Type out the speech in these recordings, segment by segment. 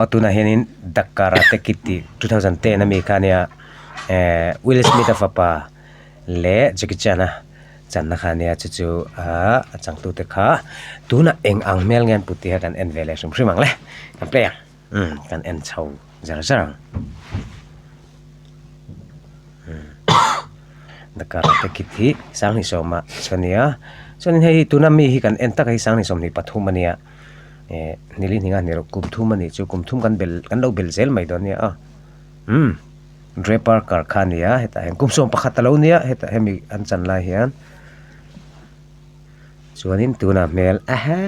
Aw tunah hianin The Karate Kid tih two thousand ten a mi kha nia ehh Will Smith-a fapa leh Jackie Chan-a channa kha nia chu chu aah a changtute kha tunah eng ang hmel nge an put tih kha kan en ve leh hrim hrim ang le kan play a umm kan en chho zer zer ang The Karate Kid hi Sanghnih sawma chhuah a nia chuanin hei tuna mi hi kan en tak a hi Sanghnih sawmhnih pathum a nia. eh nili hning a ni lo kum thum a nih chu kum thum kan bel kan lo bel zel mai dawn nia a umm draper kar kha a nia hetah hian kum sawm pakhat a lo nia hetah hemi an chan lai hian chuanin tunah hmel aha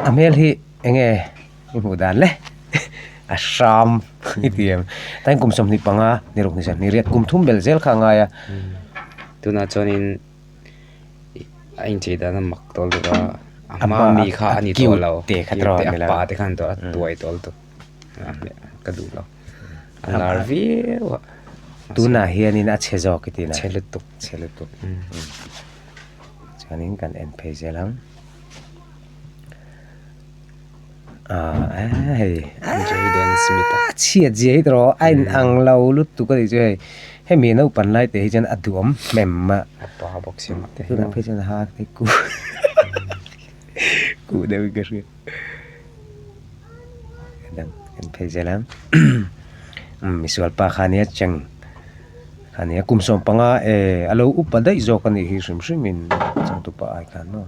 a hmel hi eng nge i hmuh dan le a hram i ti em tlai kum sawmhnih panga ni ruk ni zawmhnih riat kum thum bel zel kha a ngai a tunah chuanin. a inchei dan a mak tawh lutuk a a hma mi kha a ni tawh lo cute te khat rawh a ni lo a pa te khan a tuai tawh lutuk ka duh lo a lar viau a tunah hian in a chhe zawk i ti lo chhe lutuk chhe lutuk chuan in kan en phei zel ang. Ahh eeh hei Jaden Smith a chhiat zia hi tawrh a inang lo lutuk a nih chu hei hemi naupang lai te hi chuan a duam hmem a tunah phei chuan ha kei kuh kuh deuh in ka hria a dang en phei zel a Misualpa kha nia cheng kha nia kum sawm panga eeh a lo upa daih zawk a nih hi hrim hrim in chawng tu pah ai khan maw.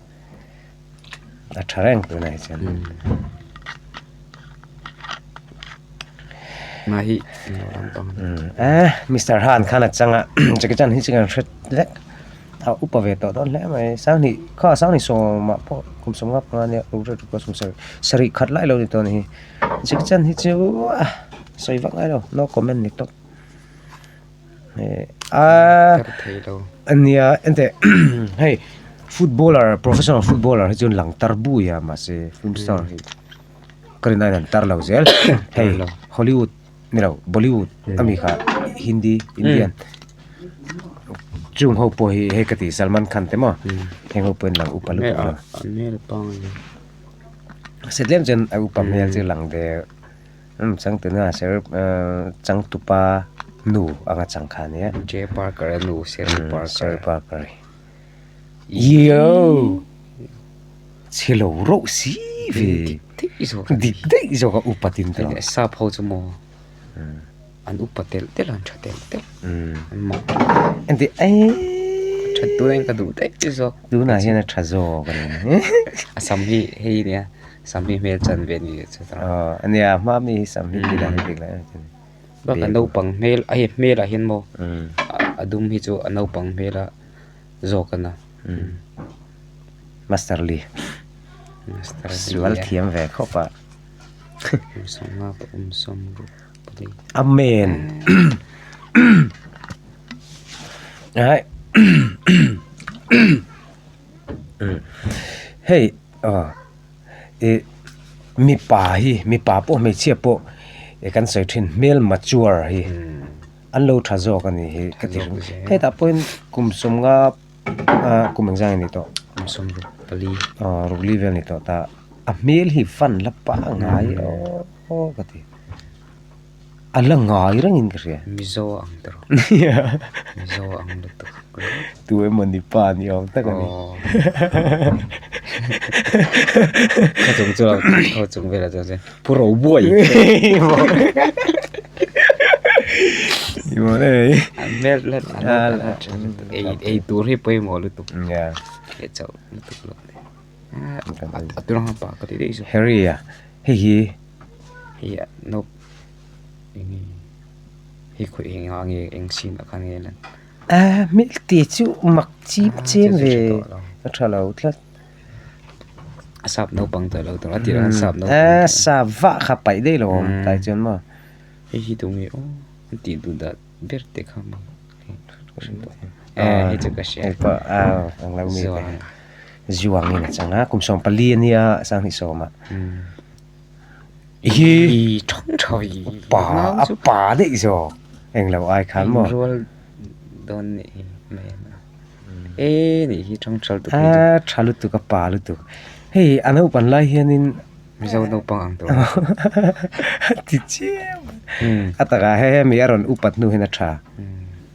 a tha reng tûr nai chuan mahi eh Mister Han khan a changa Jackie Chan hi chikan hret lek a upa ve tawh dawn hle mai sang ni kha sang ni sawma pawh kum sawm ngap nga nia ruk rek ruk pawh sawmsarih sarih khat lai lo ni tawh ni hi Jackie Chan hi chu a sawi vak ngai lo no comment ni tawp Aaa ania ente hei footballer professional footballer hi chuan lang tar bui a mahse film star hi ka rin aiin an tar lo zel hei Hollywood ni lo Bollywood a mi kha Hindi Indian chung ho pawh hi hei ka ti Salman Khan te maw heng ho pawh in lang upa lutuk lo an hmel pawng se tlem chuan a upa hmel chu lang ve Umm changtuna ser changtupa nu anga changkha nia. Jay Parker a nu Sherry Parker. Sherry Parker a ni. Yow! Chhilo rauh si ve. Dik daih zawk a ni. Dik daih zawk a upat in tawh. Sap ho chu maw. An upa telh telh a an tha telh telh an mah engti eii a that tur ain ka duh daih daih zawk tunah hian a tha zawk a ni a sam hi hei nia sam hi hmel chanve a ni leh chu ta aw a nia a hmaa mi hi sam hi dah hi bik lah em chin bak a naupang hmel a hei hmel ah hian maw a dum hi chu a naupang hmel a zawk a na master li master li sual thiam ve khawp a awmsawm nga pawh awmsawm bawk. Amen. Hei, mipa hi, mipa pawh hmeichhia pawh e kan sawi thin hmel mature hi an lo tha zawk a nih hi ka ti hre. Hetah pawhin kum sawmnga. Aa kum engzang i ni tawh. Kum sum ruk pali. Aw ruk li vel ni tawh ta. A hmel hi van la pa ngai aww ka ti. A la ngai reng in ka hria. Mizo a ang ta rawh. Mizo a ang lutuk rawh. Tu emawni pa ni awm tak a ni. Aww. Khaw chung chu a lo tih khaw chung vel ah chuan chuan. Pu ro buai. Imaw nei. An mel let an la chan ei ei tur hi poi mo lutuk. Ya. He chau lutuk lo. Aturang pa ka ti dei zo. Harry ya. Hi hi. Hi ya no. Ini. Hi khui eng ang e eng sin akan e lan. A mil ti chu mak chip chen ve. Ka tha lo tlat. sap no pang ta lo tawng a tira sap no pang sa va kha pai dei lo om tai chuan maw hei hi tu nge aw an tih duh dah ber te kha maw hei chu ka hria hei pawh aw ang lo mi te hian zuangin a chang a kum sawm pali a nia sang hnih sawma. hi thawng thaw hi pa a pa daih zawk englo ai khan maw rual dawn nih hi e nih hi thawng thaw lutuk hi a tha lutuk a pa lutuk hei a naupang lai hianin mizo naupang ang tur ti chiang a takah he mi a rawn upat hnu hian a tha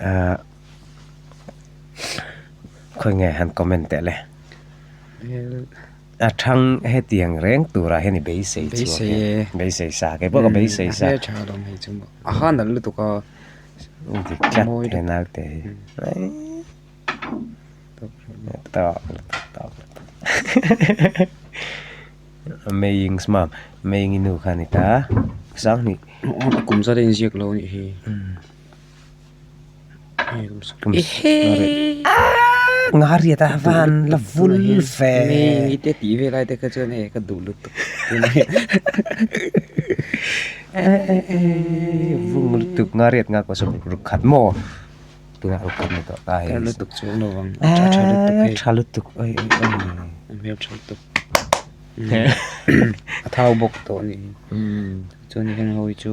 Ahh khawi nge han comment teh le. A thang hetiang reng tura hian i beisei chhuak e. Beisei e. Beisei sa kei pawh ka beisei sa. Hle tha lo mai chu mah. A han nalh lutuk a. Dik tlat he naute hi. Tawk lutuk tawk lutuk. Maying's mum. Maying i nu khan i ta a. Sangni. A kum zat a inziak lo anih hi. I hei nghariat a van la vul ve mi te tih ve lai te kha chuan hei ka duh lut vung lutuk nghariat nga ko saw ruk khat maw tuna ruk khat ni tawh ta hei ka lutuk chuang lo vang tha lutuk oi hmel tha lutuk a thau bawk tawh ni chuan heng ho chu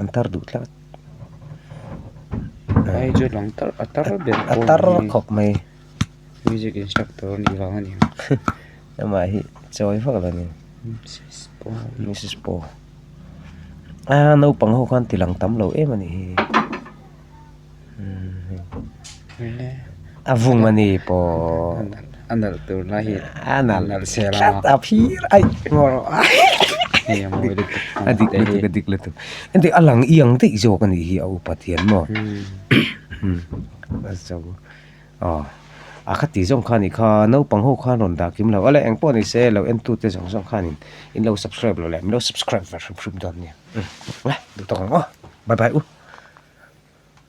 an tar duh tlat ai chu lang tar a tar ber pawh a ni a tar khawp mai music instructor a nih vang a ni amah hi chawi vak lo ni mrs paw a naupang ho khan tilang tam lo em a nih hi. a vung ani pawh a nalh tur lai hi a nalh nalh se la tlat a phir aih ngawh rawh hei a mawi lutuk a dik lutuk a dik lutuk engti a lang iang daih zawk a nih hi a upat hian maw aw a khati zawng khani kha naupang ho khan rawn dah kim lo a la eng pawh nise lo en tu te zawng zawng khan in in lo subscribe lo leh min lo subscribe ve hrim hrim dawn nia duh tak awm aw bye bye u.